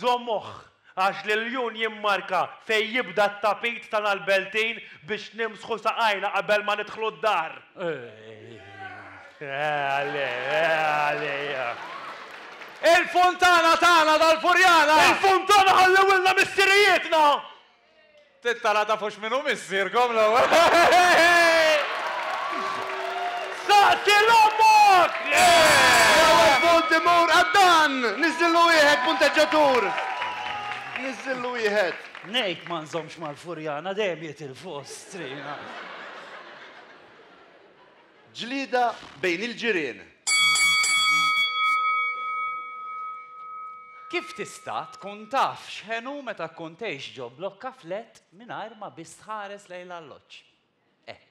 Żommuh, għax l-iljun jimmarka fejn jibda t-tapit ta' nal-beltin biex nimsħu saqajna qabel ma nidħlu d-dar. Il-funtana tagħna tal-Furjana! Il-funtana ħallewilna missirijietna! Tintala tafux min hu missierkom l-ewwel? Saqsi 'l ommok! L-ewwel punt imur għad-Dan! Niżżillu wieħed punteġġatur! Niżżillu wieħed. Ngħid ma nżommx mal-Furjana dejjem jitilfu Ostrina. Ġlieda bejn il-ġirien. Kif tista' tkun taf x'ħenu meta tkun tgħix ġo blokka flat mingħajr ma biss tħares lejn l-alloġġ? Hekk.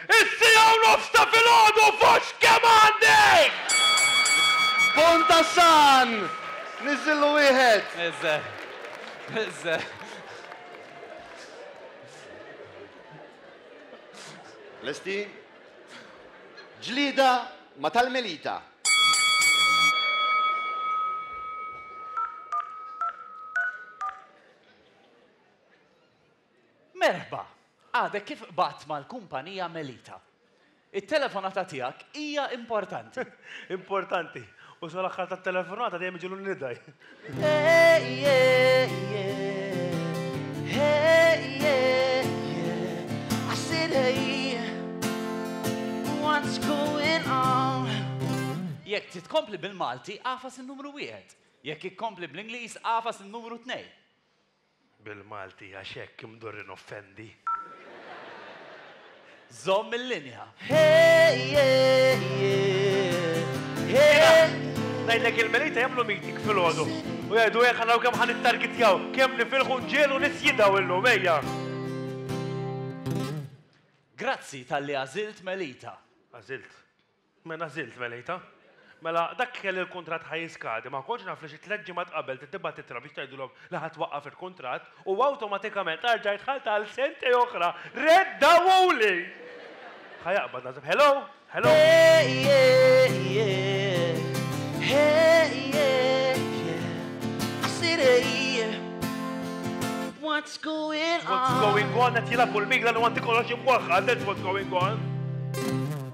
Is-siegħa u nofs ta' filgħodu f'hux kemm għandek! Pont tas-San! Niżżillu wieħed! Niżżel. Niżżel. Lesti? Ġlieda ma' tal-Melita. Merħba! Għadek kif qbadt mal-kumpanija Melita. It-telefonata tiegħek hija importanti. Importanti! U sal-aħħar tat-telefonata dejjem iġiegħlu n-nida. Jekk trid tkompli bil-Malti, agħfas in-numru wieħed. Jekk ikkompli bl-Ingliż, agħfas in-numru tnejn. Bil-Malti għax hekk imdur inoffendi. Żomm il-linja. Hey yeah yeah hey. Ngħidlek il-Melita jagħmlu meeting filgħodu u jgħidu hekk naraw kemm ħan ittargitjaw, kemm nifilħu nġielu nisjidaw illum ejja. Grazzi talli għażilt Melita. Għażilt. Mena żilt melejtha. Mela, dak li kelli l-kuntratt ħa jiskadi, ma kontx naf li xi tliet ġimgħat qabel tittibgħat ittra biex tgħidilhom li ħa twaqqaf il-kuntratt u awtomatikament arġajt dħalt għal sentej oħra! Reddawhuli! Ħa jaqbad naħseb. Hello! Hello! What's going on? What's going on? Qed jilgħab u l-migla li għandi kollox imwaħħal, that's what's going on!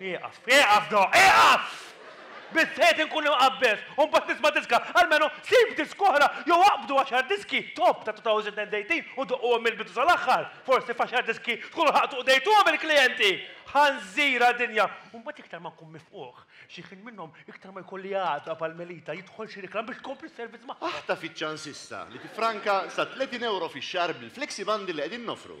Ieqaf! Ieqaf do! Ieqaf! Biżżejjed inkun imqabbeż u mbagħad nisma' diska! Almenu sib disk oħra jew aqbdu għaxar diski top ta' 2018 u doqquhom mill-bidu sal-aħħar! Forsi f'għaxar diski tkunu ħaqtu qdejtuhom il-klijenti! Ħanżira dinja! U mbagħad iktar ma nkun mifqugħ xi ħin minnhom iktar ma jkolli għaqda bħal Melita jidħol xi reklam biex tkompli s-servizz magħhom! Aħtaf iċ-ċans issa li tiffranka sa 30 ewro fix-xahar bil-Flexi Bundle li qegħdin noffru!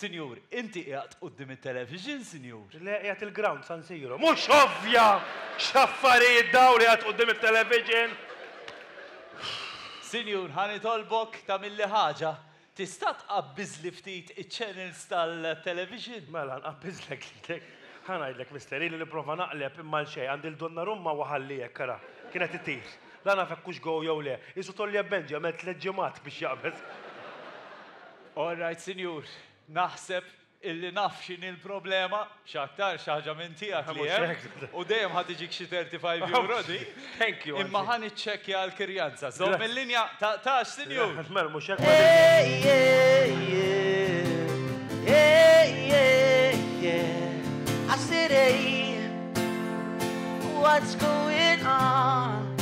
Sinjur, inti qiegħed quddiem it-television, sinjur? Le, qiegħed il-ground San Siro. Mhux ovvja! X'affarijiet dawn, qiegħed quddiem it-television? Sinjur, ħa nitolbok tagħmilli ħaġa. Tista' tqabbiżli ftit iċ-channels tal-television? Mela, nqabbiżlek lilek. Ħa ngħidlek, mister, ili nipprova naqleb imma għal xejn, għandi 'l Donnarumma u ħalli hekk, ara, kienet itir. La naf hekk hux goal jew le. Qisu Tolly Ebenji għamel tliet ġimgħat biex jaqbeż. All right, Sinjur, naħseb illi naf x'inhi l-problema, x'aktar xi ħaġa minn tiegħek li hemm, u dejjem ħa tiġik xi 35 euro di. Thank you. Imma ħa niċċekkja l-kirjanza. Żomm il-linja, taqtax, Sinjur. Mela mhux hekk. I said, hey, what's going on?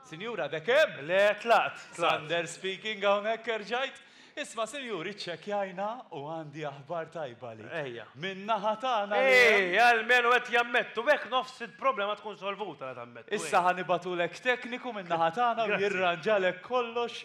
Sinjura De Kem? Le, tlaqt, tlaqt. Sander speaking hawnhekk erġajt. Isma' sinjuri ċċekkjajna u għandi aħbar tajba għalik. Ejja. Min-naħa tagħna li hemm. Ehi, almenu qed jammettu, hekk nofs il-problema tkun solvuta la tammettu. Issa ħa nibgħatulek tekniku min-naħa tagħna u jirranġalek kollox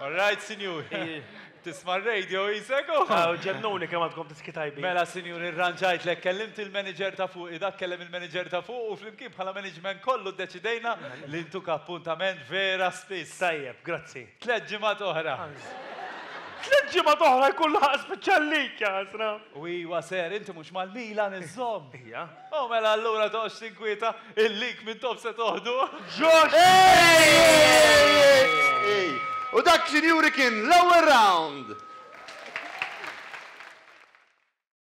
All right, sinjuri. Tisma' r-radio jisek u. Aw, ġennuni kemm għandkom diski tajbin. Mela, sinjuri, rranġajtlek, kellimt il-manager ta' fuq, dak kellem il-manager ta' fuq u flimkien bħala management kollu ddeċidejna li ntuk appuntament vera spiss. Tajjeb, grazzi. Tliet ġimgħat oħra. Tliet ġimgħat oħra jkun laħaq spiċċa l-lig, jaħasra! U iwa ser, inti mhux mal-Milan iżżomm? Ija. O mela allura toqgħodx tinkwieta, il-link mintobh se toħduh. Josh Payne! U dak, sinjuri, kien l-ewwel round!